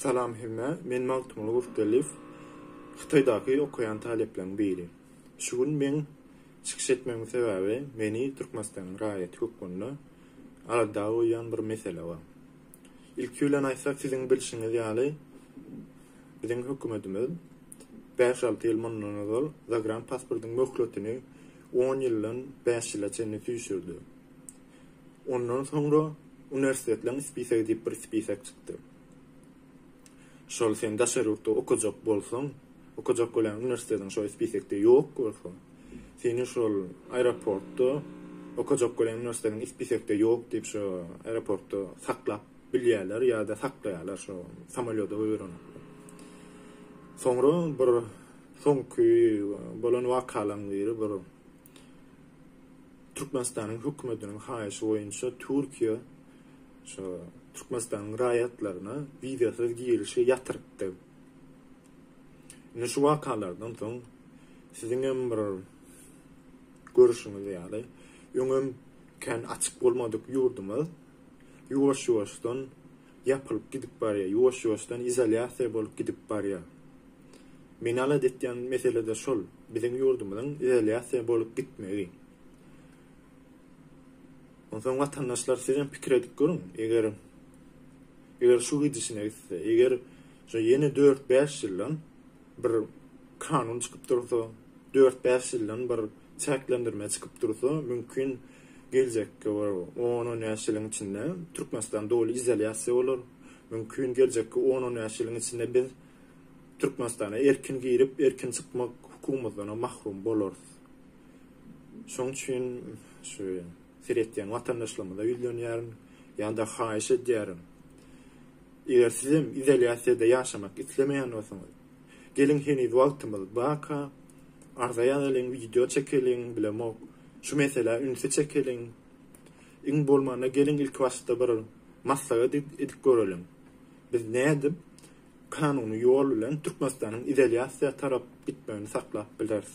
Salam hemme, men Magtymguly Gurtgeldiýew, Hytaýdaky okaýan talyplaryň biri. Şu gün meň çykyş etmegiň sebäbi meni Türkmenistanyň raýaty hökmünde alada goýýan bir mesele bar. Ilki bilen aýtsak siziň bilşiňiz ýaly biziň hökümetimiz bäş alty ýyl mundan ozal zagran pasportyň möhletini on ýyldan bäş ýyla çenli süýşürdi. Ondan soňra uniwersitetleriň spisigi diýip bir spisik çykdy. Şol sen daşary ýurtda okajak bolsaň, okajak bolýan uniwersitetiň şol spisikde ýok bolsa, seni şol aeroportda okajak bolýan uniwersitetiň spisikde ýok diýip şo aeroportda saklap bilýärler ýa-da saklaýarlar şo samolýoda goýberenoklar. Soňra bir soňky bolan wakalaryň biri bir Türkmenistanyň hökümetiniň haýyşy boýunça Türkiýe şu Türkmenistanyň raýatlaryna wizasyz girişi ýatyrypdy. Indi şu wakalardan soň siziňem bir görüşiňiz ýaly öňem kän açyk bolmadyk ýurdumyz ýuwaş-ýuwaşdan Ýapylyp gidip barýa, ýuwaş-ýuwaşdan izolýasiýa bolup gidip barýa. Meni alada etýän mesele-de şol, biziň ýurdumyzyň izolýasiýa bolup gitmegi. Onsoň watandaşlar sizem pikir edip görüň, eger eger şu gidişine gitse, eger şu ýene dört-bäş ýyldan bir kanun çykyp dursa, dört-bäş ýyldan bir çäklendirme çykyp dursa, mümkin geljekki bir on-on bäş ýylyň içinde Türkmenistan doly izolýasiýa bolar. Mümkin geljekki on-on bäş ýylyň içinde biz Türkmenistana erkin girip, erkin çykmak hukumymyzdanam mahrum bolarys. Şoň üçin şu seretýän watandaşlarymyza ýüzlenýärin ýa-da haýyş edýärin. Eger sizem izolýasiýada ýaşamak islemeýän bolsaňyz, Geliň heniz wagtymyz baka arza ýazalyň wideo çekeliň bilemok şu meselä ünsi çekeliň iň bolmanda geliň ilki başda bir maslahat edip göreliň biz nädip kanuny ýol bilen Türkmenistanyň izolýasiýa tarap gitmegini saklap bileris.